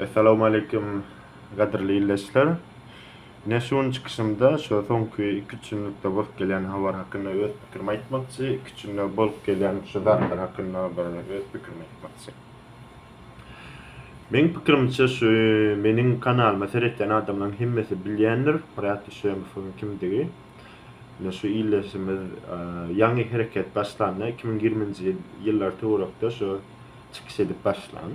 Essalawmaleýkim gadyrly ildeşler. Ine şu gün çykyşymda şu soňky iki üç günlükde bolup gelýän habar hakynda öz pikirimi aýtmakçy, iki üç günde bolup gelýän şu zatlar hakynda bir öz pikirimi aýtmakçy. Meň pikirimçe şu meniň kanalyma seretýän adamlaryň hemmesi bilýändir Myrat Düşemowyň kimdigi. Ine şu ildeşimiz ýaňy hereket başlanda iki müň ýigriminji ýyl ýyllar töwerekde şu çykyş edip başlan.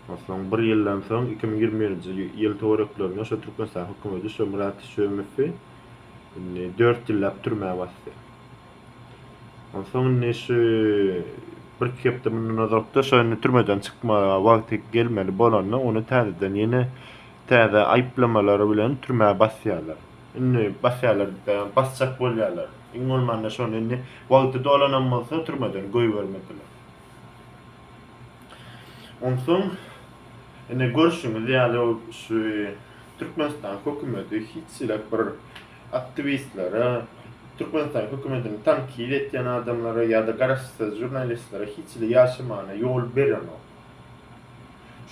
Onsoň bir ýyldan soň iki müň ýigrimi birinji ýyl töwereklerinde şu Türkmenistan hökümeti şu Myrat Şömowy indi dört ýyllap türmä basdy. Onsoň indi şu bir iki hepde mundan ozalkda şu indi türmeden çykmaga wagty gelmeli bolanda ony täzeden ýene täze aýyplamalar bilen türmä basýarlar. Indi basýarlar, basjak bolýarlar. Iň bolmanda şony indi wagty dolanam bolsa türmeden goýbermediler. Onsoň ine görşüňiz ýaly şu Türkmenistan hökümeti hiç hili bir aktiwistlere, Türkmenistan hökümetini tankyt etýän adamlara ýa-da garaşsyz žurnalistlere hiç hili ýaşamana ýol berenok.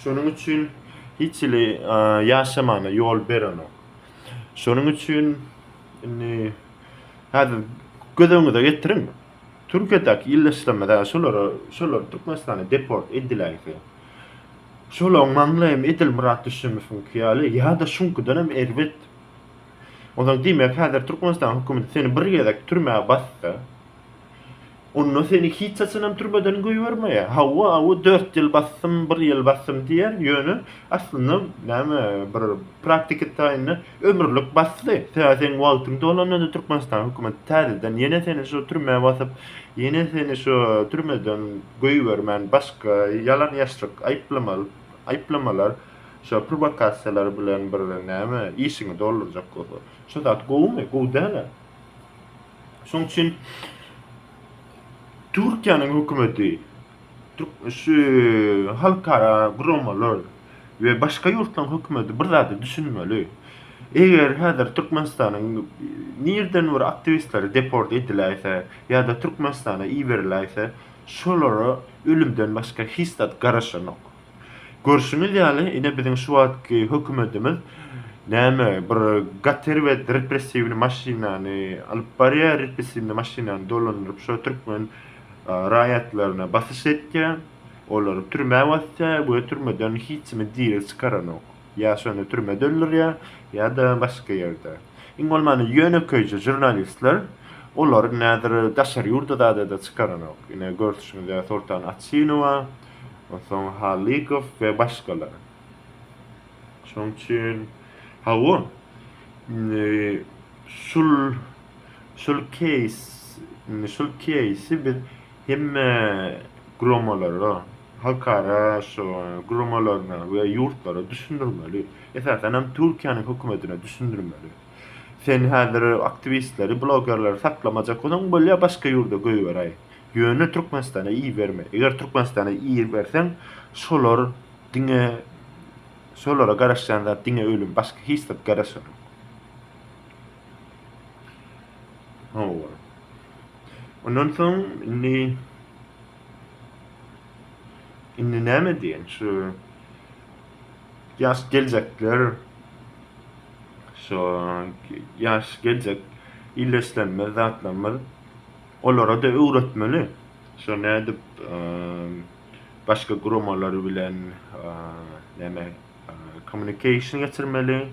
Şonuň üçin hiç hili ýaşamana ýol berenok. Şonuň üçin indi häzir göz öňüňize getiriň. Türkiýedäki ýerleşdirmede şolara şolar Türkmenistana deport ediläýse, şolaň maňly hem edil Myrat Düşemowyňky ýaly ýa-da şuňkudan hem erbet. Onsoň diýmek häzir Türkmenistan hökümeti seni bir gezek türmä bassa, onda seni hiç haçan hem türmeden goýbermeýär. Hawa, awy dört ýyl basdym, bir ýyl basdym diýer, ýöne aslynda näme bir praktiki taýynda Ömürlik basdy. Tä seň wagtyň dolanda-da Türkmenistan hökümeti täzeden ýene seni şu türmä basyp, ýene seni şu türmeden goýbermän başga ýalan-ýaşryk aýyplamaly aýyplamalar, şo prowokasiýalar bilen bir näme işiňi doldurjak bolsa. Şu zat gowumy? Gowy däl-ä. Şoň üçin Türkiýäniň hökümeti şu halkara guramalar we başga ýurtlaryň hökümeti bir zada düşünmeli. Eger häzir Türkmenistanyň nireden bir aktiwistleri deport ediläýse ýa-da Türkmenistana iberiläýse, şolara ölümden başga hiç zat garaşanok. Görşüňiz ýaly, ine biziň şu wagtky hökümetimiz näme, bir gater we repressiwny maşynany alyp barýar, repressiwny maşynany dolandyryp şo türkmen raýatlaryna basyş etýär, olary türmä basýar we türmeden hiç kimi diri çykaranok. Ýa şony türmede öldürýär, ýa-da başga ýerde. Iň bolmanda ýönekeýje žurnalistler, olary häzir daşary ýurda zada-da çykaranok. Ine görşüňiz ýaly Soltan Açynowa, Onsoň Halykow we başgalar. Şonuň üçin hawa şul şul keýs indi şul keýsi biz hemme guramalara halkara şu guramalaryna we ýurtlara düşündirmeli. Esasanam Türkiýäniň hökümetine düşündirmeli. Sen häzir aktiwistleri, blogerleri saklamajak bolsaň bolýa başga ýurda goýberaý. Ýöne Türkmenistana iberme. Eger Türkmenistana iberseň, şolar diňe şolara garaşýan zat diňe ölüm, başga hiç zat garaşanok. Hawa. Ondan soň indi indi näme diýen şu ýaş geljekler şu ýaş geljek illeşlerimiz, zatlarymyz Olara-da öwretmeli. Şo nädip başga guramalar bilen näme kommunikasiýa geçirmeli,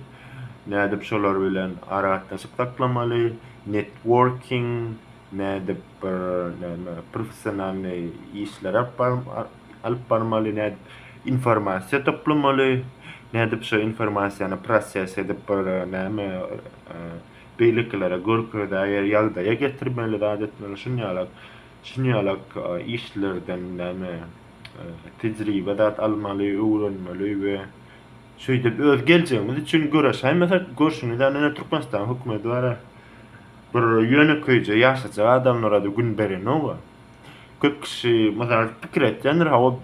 nädip şolar bilen aragatnaşyk saklamaly, networking, nädip bir näme professionalnyý işleri alyp barmaly, nädip informasiýa toplamaly, nädip şo informasiýany proses edip bir näme beýlekilere görkezäýer ýagdaýa getirmeli zat etmeli şunýalak şunýalak işlerden näme tejribe zat almaly öwrenmeli we şeýdip öz geljegimiz üçin göreşäýmesek görşüňiz ýaly ine türkmenistan hökümedi bara bir ýönekeýje ýaşajak adamlara da gün berenok-a. köp kişi mysal pikir etýändir hawa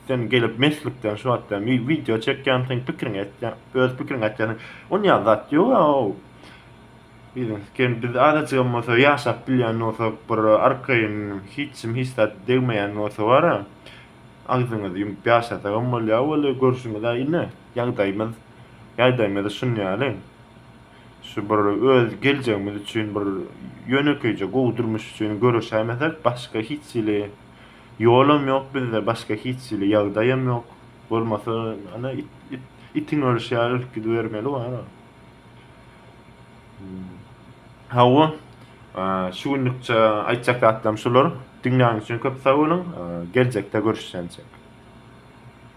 sen gelip meslikden şu wagtda wideo çekýän sen pikiriň etýän öz pikiriň etýän on ýa zat ýok a o ken biz azajyk hem bolsa ýaşap bilýän bolsak bir arkaýyn hiç kim hiç zat degmeýän bolsa bara agzyňyzy ýumup ýaşasak hem bolýar weli görşüňiz indi ýagdaýymyz ýagdaýymyz şunýaly Şu bir öz geljegimiz üçin bir ýönekeýje gowy durmuş üçin göreşäýmesek, başga hiç hili ýolam ýok bizde, başga hiç hili ýagdaýam ýok. Bolmasa, ana, it, it, itiň ölüşi ýaly ölüp gidibermeli wara. Hmm. Hawa, şu günlükçe aýtjak zatlarym şular. Diňläniň üçin köp sag boluň. Geljekde görüşýänçek.